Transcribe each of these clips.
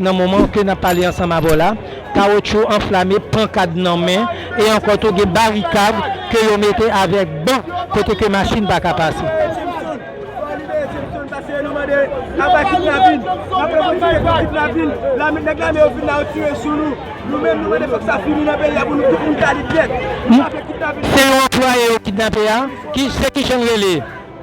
Nan moman ke nap pale ansanm avè w la, kawotchou anflame, pankad nan men, e ankò tou gen barikad ke yo mete avèk ban kote ke machin pa ka pase. Se yon anplwaye yo kidnape a? Se kijan l rele?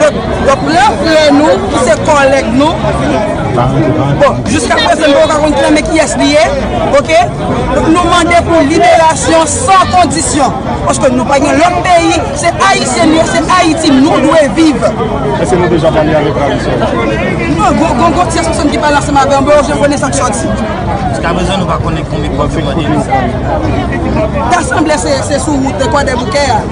Donk, yo pran frè nou ki se kòlèg nou. Bon, jiska prezan nou pa ka konn klèmen kiyès li ye. Ok? Donk nou mande pou liberasyon san kondisyon. Paske nou pa gen lòt peyi. Se Ayisyen nou ye, se Ayiti nou dwe viv. Eske nou deja pale avèk Ravisseur la? Non, gon gon tyès pèsonn ki pale ansanm avè m. Bon, jen konnen sa k sòti. Jiska prezan nou pa konnen konbyen kob yo mande. Ta sanble se sou wout Kwadèboukè a.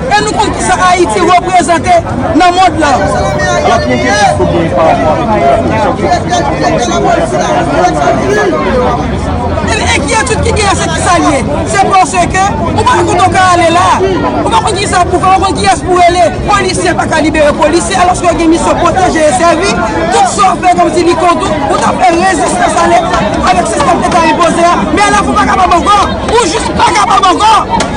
E nou konn kisa Ayiti reprezante nan mond lan. Alò ki enkyetid ke w genyen pa rapò avèk tout enpozisyon ki soti sou gouvènman Prezidan Jovenel Moïse la nan peyi a ki pa janm rive nan pouvwa? Enkyetid ki genyen se kisa l ye? Se paske ou pa konn kote w ka ale la a. Ou pa konn kisa pou w fè, ou pa konn kiyès pou w rele. Polisye pa ka libere polisye alòske yo gen misyon pwoteje e sèvi. Tout sa w fè kòmsi li kont ou, ou ta fè rezistans ale avèk sistèm ke ta enpoze a. Men la fè w pa kapab ankò. Ou jis pa kapab ankò.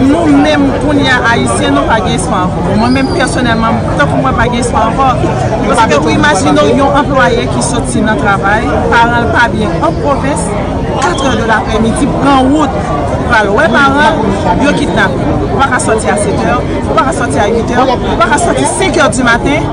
Nou menm kounye a Ayisyen nou pa gen espwa ankò. Bon mwen menm pèsonèlman tankou mwen pa gen espwa ankò. Paske ou imajine w yon anplwaye ki soti nan travay, paran l pa byen an pwovens, 4 è de laprèmidi pran wout pou pral wè paran l, yo kidnape l. Ou pa ka soti a 7 è, ou pa ka soti a 8 è, ou pa ka soti 5 è di maten.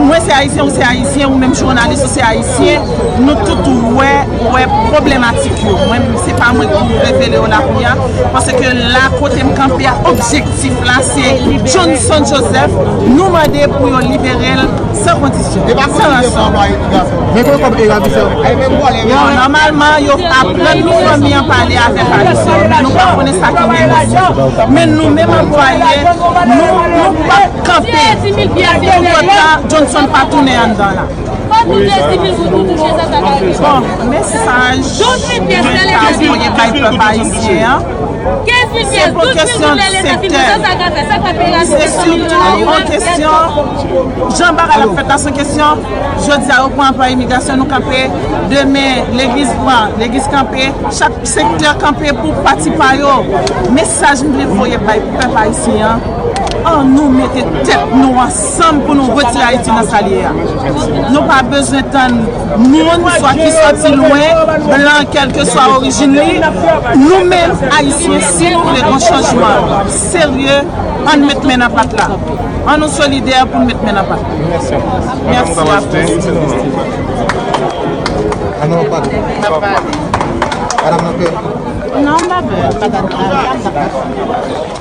Mwen se ayisyen ou se ayisyen ou menm jounalis ou se ayisyen nou tout wè wè problematik yo mwen menm se pa mwen ki revele yo la kounya paske la kotem kanpe a objektif la se Johnson Joseph nou mande pou yo liberel san kondisyon san ranson nòmalman yo aprann nou fanmi an pale avèk ayisyen men nou pa konnen sa ki gen nan men nou menm anplwaye nou pap Kanpe! Lage lè lè Johnson pa tounen anndan la. Bon, mesaj Ducasse voye bay pèp ayisyen an, se pou kesyon sektè. Se sitou yon kesyon, jan bagay la fèt la, se yon kesyon, jodi a yo pran anplwaye imigrasyon, nou kanpe, demen legliz pran, legliz kanpe, chak sektè kanpe pou pati pa yo. Mesaj m vle voye bay pèp ayisyen an, An nou mete tèt nou ansanm pou nou retire Ayiti nan sa l ye a. Nou pa bezwen tann moun swa ki sòti lwen, blan kèlkeswa orijin li. Nou menm Ayisyen si nou vle yon chanjman serye an n met men nan pat la. An nou solidè pou n met men nan pat. Mèsi apreside.